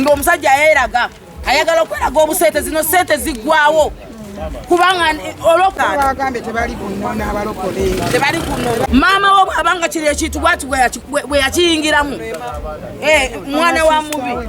ng'omusajja yayeraga ayagala okweraga obusente zino sente ziggwawo kubanga olwokatebali kunona maama wo bwabanga kiri ekintu bwati bwe yakiyingiramu eh, mwana wa mubi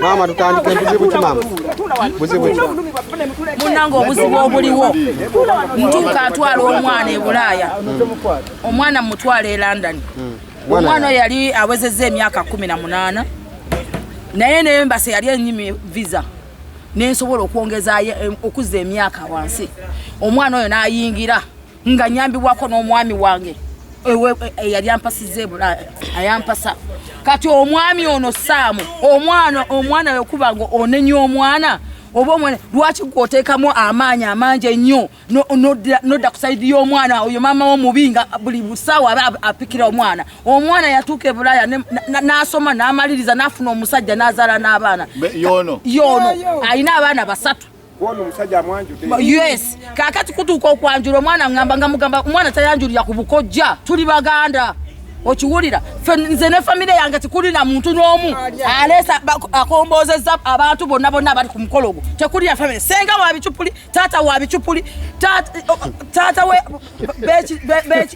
maama tutandike buzibu ki maama buzibu ki munange obuzibu obuliwo ntuuka atwala omwana e bulaaya omwana mutwala e london hmm. omwana oyo yali awezezza emyaka kumi na munaana naye nembasa yali enyimi visa nensobola okwongezayo eh, okuzza emyaka wansi omwana oyo nayingira nga nyambibwako n'omwami wange eyali eh, eh, ampasiza ebula ayampasa kati omwami ono saamu omwana omwana wekuba nga onenya omwana oba omwana lwaki gwoteekamu amaanyi amangi ennyo nodda ku saidi y'omwana oyo maama wo mubi nga buli busaawa aba apikira omwana omwana yatuuka ebulaya n'asoma n'amaliriza n'afuna omusajja n'azaala n'abaana yono yono alina abaana basatu yes kakati kutuuka okwanjula omwana ngamba nga mugamba omwana tayanjulira ku bukojja tuli baganda okiwulira nze ne famire yange tekuli na muntu n'omu aleesa akomboozezza abantu bonna bonna abali ku mukolo gwo tekuli ya famire senga wabicupuli taata wa bicupuli taata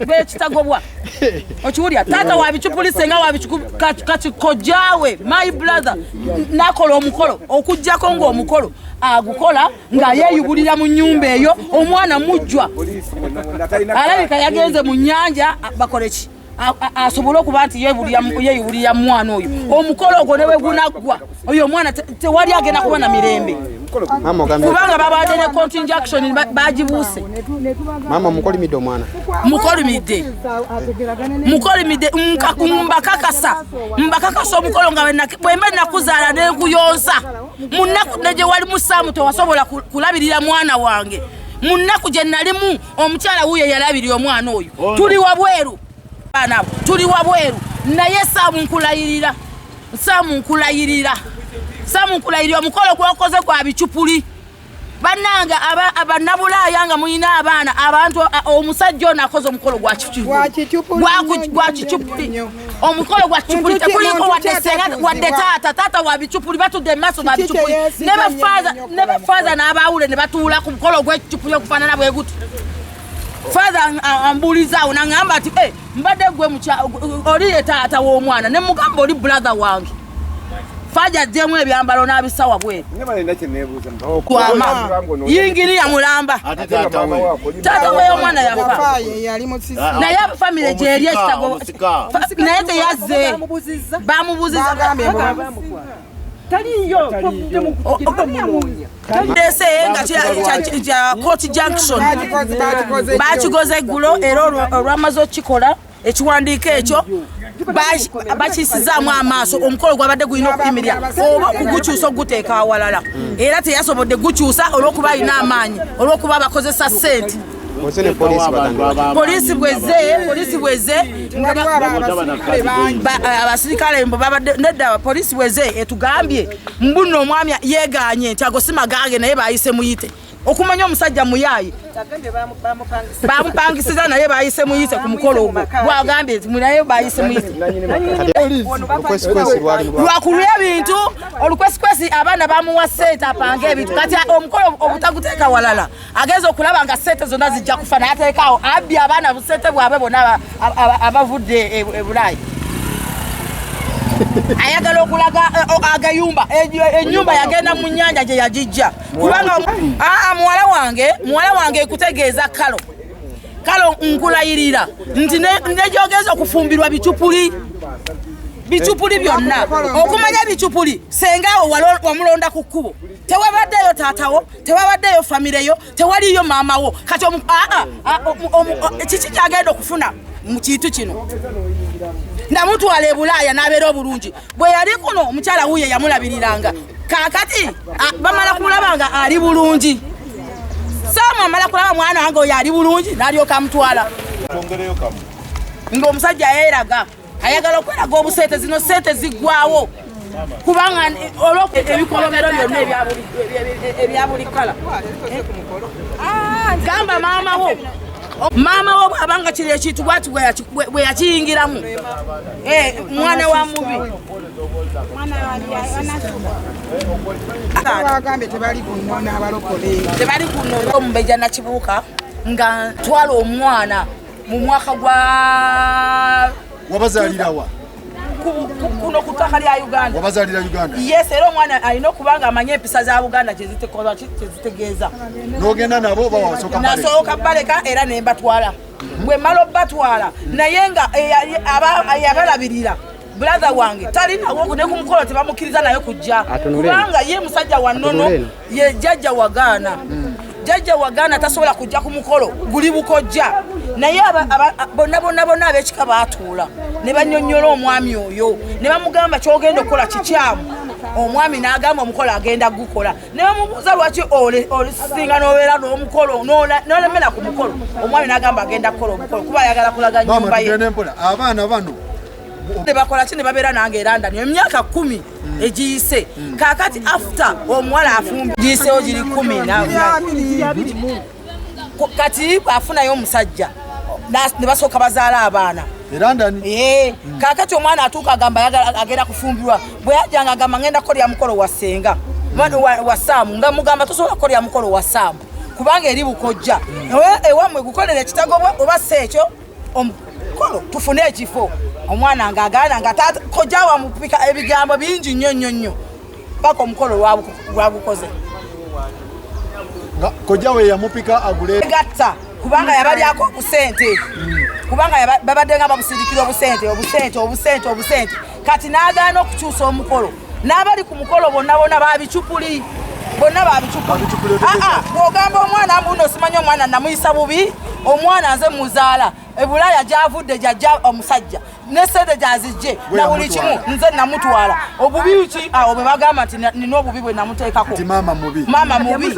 bekitagobwa okiwulira taata wa bicupuli senga wa kati kojaawe my brother nakola omukolo okugjako ngaomukolo agukola nga yeyubulira mu nyumba eyo omwana mujjwa alabika yagenze mu nyanja bakoleki asobole okuba nti yeyubulira mwana oyo omukolo ogwo ne wegunaggwa oyo omwana tewali agenda kuba na mirembe kubanga babadde ne continjaction bagibuuse mama mukolimidde omwana mukolimidde mukolimidde mbakakasa mbakakasa omukolo nga bwemba nakuzaala nekuyonsa munaku negye wali musaamu tewasobola kulabirira mwana wange munaku gye nalimu omukyala wuyo yalabirira omwana oyo tuli wabweru banabo tuli wabweru naye saamu nkulayirira saamu nkulayirira saamu nkulayirira omukolo gwokoze gwa bicupuli banange abannabulaaya nga mulina abaana abantu omusajja ono akoze omukolo gwa kicupuli omukolo gwa kicupuli tekuliko wadde senga wadde taata taata wa bicupuli batudde mu maaso ba bicupuli ne bafaaza n'abaawule ne batuula ku mukolo gw'ekicupuli okufaanana bwe guti father ambuuliza awo nangamba nti eh, mbadde gwe oli ye taata w'omwana ne mugamba oli brother wange Faja jemu ebyambalo na bisawa bwe. Nyama nenda kinebuza. Oh, kwa mama. Yingiri ya mulamba. Tata wewe. Tata wewe mwana ya fa. Faye yali musisi. Ah, ah. Na ya family je yali stago. Na yete yaze. Bamubuziza. Bamubuziza. Taliyo. Taliyo. ndese nga kya court junction bakikoze eggulo era olwamaze okukikola ekiwandiiko ekyo bakisizaamu amaaso omukolo gwabadde gulina okuyimirira oba okugukyusa okuguteeka awalala era teyasobodde gukyusa olwokuba alina amaanyi olwokuba bakozesa sente polisi bweze polisi bweze abasirikale mbo babadde nedda polisi bweze etugambye mbuno omwami yeganye nti ago si magange naye bayise muyite okumanya omusajja muyaaye bamupangisiza naye bayise muyise ku mukolo ogwo gwagambye nti naye bayise muyise lwakulwa ebintu olukwesikwesi abaana bamuwa sente apange ebintu kati omukolo obutaguteeka walala agenza okulaba nga sente zonna zijja kufa naye ateekaawo abbi abaana busente bwabwe bona abavudde e, e, ebulaayi ayagala okulaga eh, agayumba enyumba yagenda mu nyanja gye yagijja kubanga aa muwala wange muwala wange ekutegeeza kalo kalo nkulayirira nti nejogeza okufumbirwa bicupuli bicupuli byonna okumanya ebicupuli senga awo wamulonda ku kkubo tewabaddeyo taatawo tewabaddeyo famireyo tewaliyo maamawo kati kiki kyagenda okufuna mu kintu kino namutwala ebulaaya n'abeera obulungi bwe yali kuno omukyala wuyo yamulabiriranga kakati bamala kulaba nga ali bulungi saamu amala kulaba mwana wange oyo ali bulungi nalyoka amutwala ngaomusajja yeraga ayagala okweraga obusente zino sente ziggwawo kubanga olwebikolobero byonna ebyabuli kala gamba maama wo maama wo bwabanga kiri ekintu bwati bwe yakiyingiramu eh, mwana wa mubi tebali kunona omubeja nakibuuka nga twala omwana mu mwaka gwa wabazalirawa kuno ku ttaka lya uganda wabazalira uganda yes era omwana alina okuba nga amanye empisa za buganda kyezitegeeza nogenda nabo nasooka baleka era nembatwala bwe mala obatwala naye nga yabalabirira brother wange talinawo ne ku mukolo tebamukkiriza naye kujja kubanga ye musajja wa nnono ye jajja wagaana jajja wagaana tasobola kujja ku mukolo guli bukojja naye bonna bonna bonna abekika baatuula ne banyonyola omwami oyo ne bamugamba kyogenda okukola kikyamu omwami n'agamba omukolo agenda gukola ne bamubuuza lwaki olisinga n'obeera n'omukolo n'olemera ku mukolo omwami n'agamba agenda kukola omukolo kuba ayagala kulaga nyumba ye abaana bano ne bakola ki ne babeera nange erandani emyaka kumi egiyise kakati after omuwala afumbi giyisewo giri kumi kati afunayo omusajja ne basooka bazaala abaana eh, hmm. kakati omwana atuuka agamba agenda kufumbirwa bwe yajanga agamba ngenda kukolera mukolo wa senga hmm. wa saamu nga mugamba tosobola kukolera mukolo wa saamu kubanga eri bukojja hmm. ewamwe gukolera ekitago oba si ekyo omukolo tufune ekifo omwana nga agaana nga taata kojja wamupika ebigambo bingi nnyo nnyo nnyo paka omukolo lwagukoze kojja we yamupika agule gatta kubanga yabalyako obusente kubanga babadde nga babusindikira obusente obusente obusente obusente kati n'agaana okukyusa omukolo n'abali ku mukolo bonna bona babicupuli bonna babicupuli ah, ah, bwogamba omwana mbuuno osimanya omwana namuyisa bubi omwana nze muzaala ebulaaya gyavudde gyajja omusajja ne sente gyazijje na buli kimu nze namutwala obubi ki awo bwe bagamba nti nina obubi bwe namuteekako maama mubi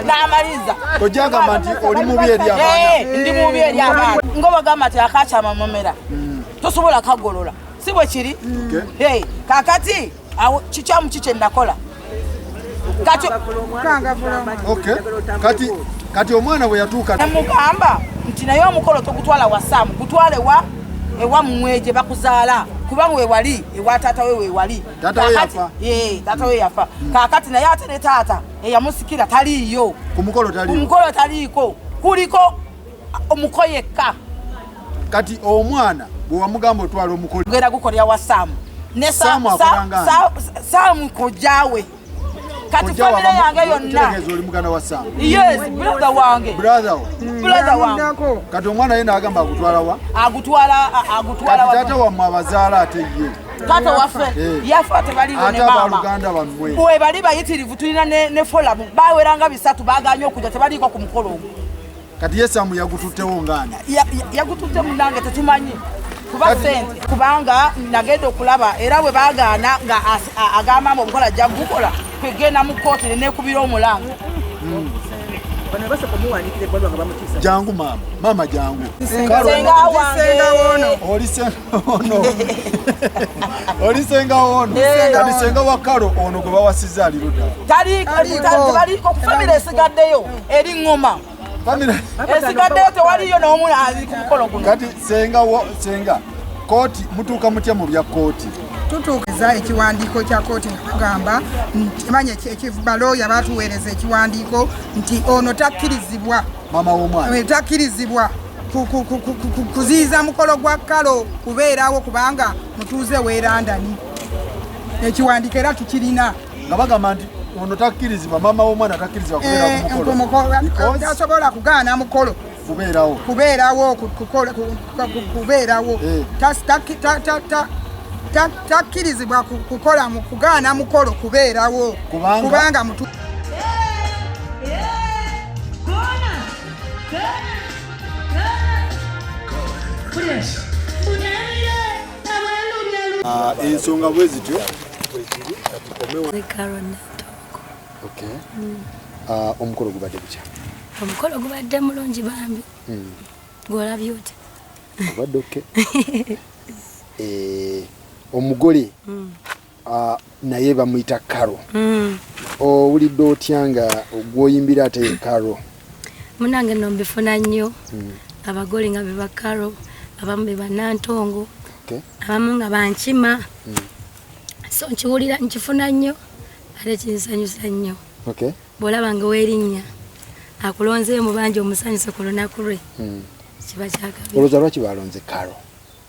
n'amaliza ojagamba nti oli mubi eri abaana eh, ndi mubi eri abaana nga bagamba nti akakyama mumera hmm. tosobola kagolola si bwe kiri kakati awo kikyamu ki kyenakola kati kati omwana bwe yatuuka namugamba nti naye omukolo togutwala wa saamu gutwale wa ewa mmwe gye bakuzaala kubanga wewali ewa taata we wewali taata we yafa hmm. kaakati naye ate ne taata eyamusikira taliiyo ku mukolo taliiko kuliko omuko yekka kati omwana bwewamugamba otwala omukolgera gukolera wa saamu ne saamu kojaawe kati famire yange yonnabrother wange kati omwana ye nagamba agutwalawa agutwalawatata wamwe abazaala ate ye taata waffe eh. yafa tebaliwebaluganda bamwe bwe bali bayitirivu tulina ne folamu baweranga bisatu baganye okuja tebaliiko ku mukolo ogwo kati yesamu yagututtewo ngaani yagututte munange tetumanyi kuba sente kubanga nagenda okulaba era bwe bagaana nga agamba mbu omukola ajja kugukola kwegenda mu kkooti nenekubira omulanga hmm. jangu maama maama jangu oli Oh, olisenga ono kadisenga wa kalo ono gwe bawasiza aliruda taliiko kufamira esigaddeyo eri ŋŋoma esigaddeyo tewaliyo n'omu ali ku mukolo guno kati senga senga kooti mutuuka mutya mu bya kooti tutuukiza ekiwandiiko kya kooti nakugamba ntimanya ekibalooya batuweereza ekiwandiiko nti ono takkirizibwa mama womwana eh, takkirizibwa kuziyiza mukolo gwa kalo kubeerawo kubanga mutuuze weerandani ekiwandiiko era tukirina nga bagamba nti ono takkirizibwa maama w'omwana takkirizibwa kubeerakuasobola eh, kugaana mukolo kubeerawo kubeerawo kubeerawo eh. takkirizibwa kukola kugaana mukolo kubeerawo kubanga mutu Ah, ensonga bwe zityo mm. ah, omukolo gubadde gutya omukolo gubadde mulungi bambi mm. gwolabye otya obadde oke eh, omugole mm. Ah, naye bamuyita karo mm. owulidde otya nga gwoyimbira ate karo munange no mbifuna nnyo mm. abagole nga beba karo abamu be banantongo okay. abamu nga bankima mm. so nkiwulira nkifuna nnyo ate kinsanyusa nnyo okay. bwolaba nga werinnya akulonzeyo mubanja omusanyuse ku lunaku lwe mm. kiba kyakabi olowooza lwaki balonze karo